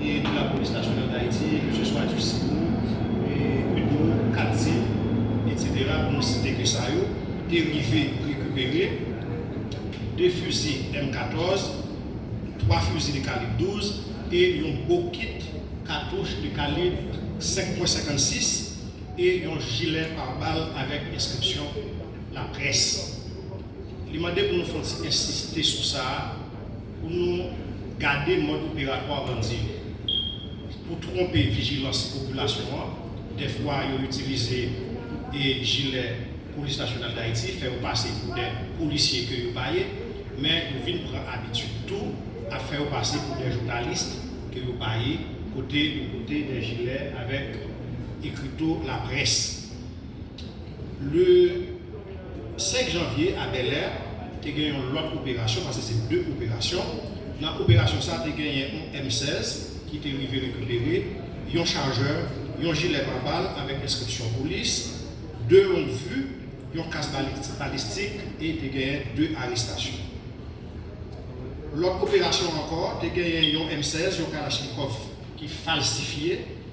e pou lapolis nasyonal dayiti e ke se swa du sipo e udo katdi etc pou nou site ke sa yo te rive rekipere 2 fuzi M 14 3 fuzi de kalib 12 e yon bokit katouch de kalib 5 pwen 56 e yon jilè par bal avek enskripsyon la près li mande pou nou fon ti ensiste sou sa. Pou nou gade mòd operatwa bandi yo pou twonpe vijilans popilasyon an, dèfwa yo itilize jilè Polis Nasyonal Dayiti, fè yo pase pou de polisye ke yo pa ye, men yo vin pran abitid tou ap fè yo pase pou de jounalist ke yo pa ye, kote yo pote de jilè avèk ekrito laprès. Le 5 janvye a Bèlè te gen yon lòt operasyon, pase se 2 operasyon, nan operasyon sa te genyen yon M 16 ki te rive rekipere, yon chajè, yon jilè pa bal avèk enskripsyon polis, 2 long vu, yon kas balistik e te genyen 2 arestasyon. Lòt operasyon ankò te genyen yon M 16, yon kalachnikòf ki falsifye,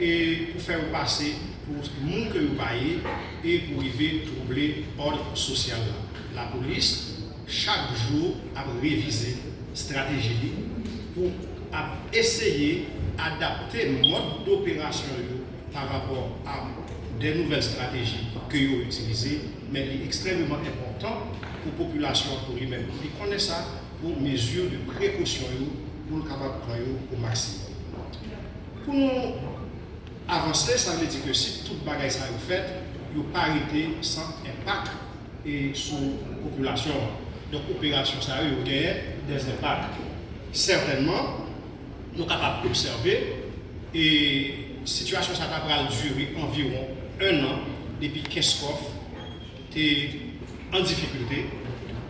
e pou fè yo pase pou moun ke yo pa ye e pou rive twouble òd sosyal la. Lapolis chak jou ap revize strateji li pou ap eseye adapte mòd doperasyon yo pa rapò a de nouvèl strateji ke yo itilize, men li ekstrèmeman enpòtan pou popilasyon an pou li menm pou li konnen sa pou mezi de prekosyon yo pou l kapab pran yo o maksimòm. Pou nou avanse, sa vle di ke si tout bagay sa yo fèt, yo pa rete san enpak e sou popilasyon an. Donk operasyon sa yo, yo genyen dè enpak. Sètènman, nou kapab obsève e sitiyasyon sa ta pral dire anviwon ennan depi Kenskòf, te an difikilte,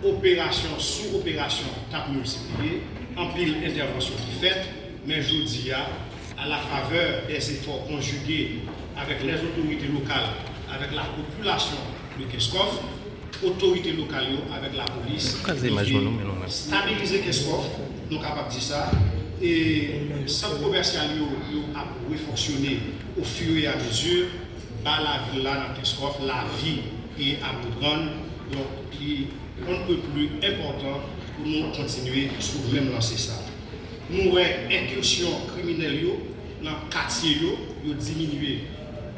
operasyon sou operasyon t ap miltipliye, anpil entèvansyon ki fèt, men jodi a, a la favè dè zefò konjige avèk lè zotorite lokal avèk la po pulasyon de Kenscoff, otorite lokal yo avèk lapolis rive stabilize Kenscoff, nou kapab di sa, e sant komèsyal yo yo ap refonksyone o fur e a mezi. Ba lavi la nan Kenskòf lavi e aprann donk li on ne peut plus enpòtan pou nou kontinye sou menm lanse sa. Nou wè enkirsyon kriminèl yo nan katye yo, yo diminye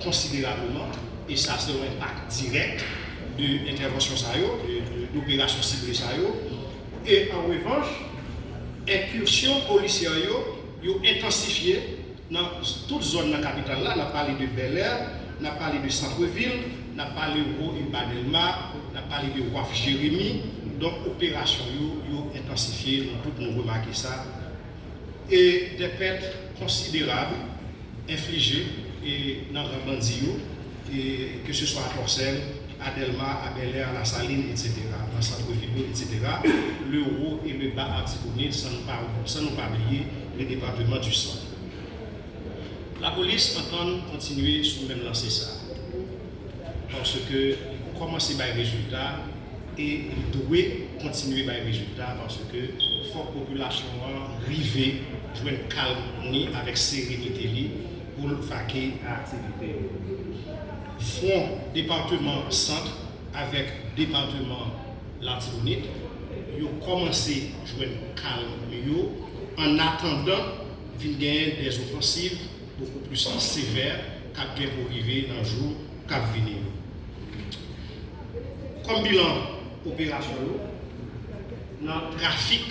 konsiderableman e sa se on enpak dirèk de entèvansyon sa yo, de doperasyon sible sa yo e an revanch enkirsyon polisyè yo, yo entansifye. Nan tout zòn nan kapital la, n ap pale de Bèlè, n ap pale de Santrevil, n ap pale Wo e Ba Dèlma, n ap pale de Waf Jeremi. Donk operasyon yo, yo entansifye, nou tout nou remake sa. E dè pèt konsiderab enflije nan ran bandi yo. ke se swa a Tòsèl, a Dèlma, a Bèlè, a Lasalin, etsetera, nan santre vil yo, etsetera, le Wo e le Ba Artibonit, san nou pa san nou pa bliye le depateman di Sant. Lapolis antann kontinye sou menm lanse sa a, paske li kòmanse bay rezilta e li dwe kontinye bay rezilta, paske fòk popilasyon an rive jwenn kalm ni avèk serenite li, pou l vake a aktivite yo. Fwon departeman Sant avèk departeman Latibonit yo kòmanse jwenn kalm yo an atandan vin genyen de zofansiv bokou plis sevè k ap gen pou rive nan jou k ap vini yo. Kòm bilan operasyon yo nan trafik.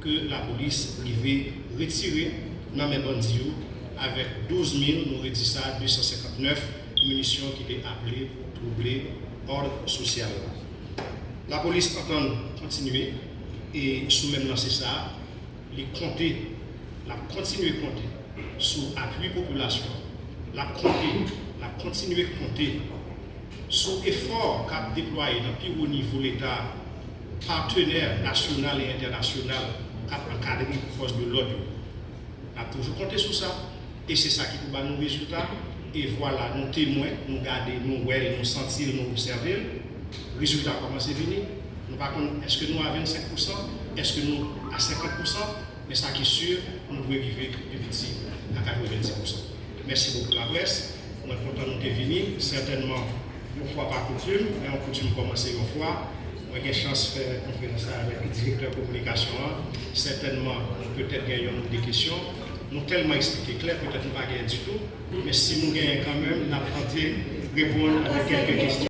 ke lapolis rive retire nan men bandi yo avèk 12 mil, nou redi sa, 259 minisyon ki te aple pou twouble òd sosyal la. Lapolis antann kontinye e sou menm lanse sa, li konte, l ap kontinye konte sou apui popilasyon an, l ap konte, l ap kontinye konte sou efò k ap deplwaye nan pi wo nivo Leta a, patenè nasyonal e entènasyonal k ap ankadre fòs de lòd yo. N ap toujou konte sou sa e se sa ki pou ba nou rezilta e vwala nou temwen, nou gade, nou wè l, nou santi l, nou obsève l, rezilta kòmanse vini. Nou pa konn èske nou a 25 pousan, èske nou a 50 pousan, men sa ki sur nou dwe rive pi piti a 90 pousan. Mèsi bokou laprès. Mwen kontan nou te vini. Sètènman, yon fwa pa koutim, lè yon koutim kòmanse yon fwa, mwen gen chans fè konferans la avèk Direktè Kominikasyon an. Sètènman, nou petèt gen yonn ou de kesyon. Nou tèlman esplike klè, petèt nou pa genyen ditou. Men si nou genyen kanmenm, n ap tante reponn avèk kèlke kesyon.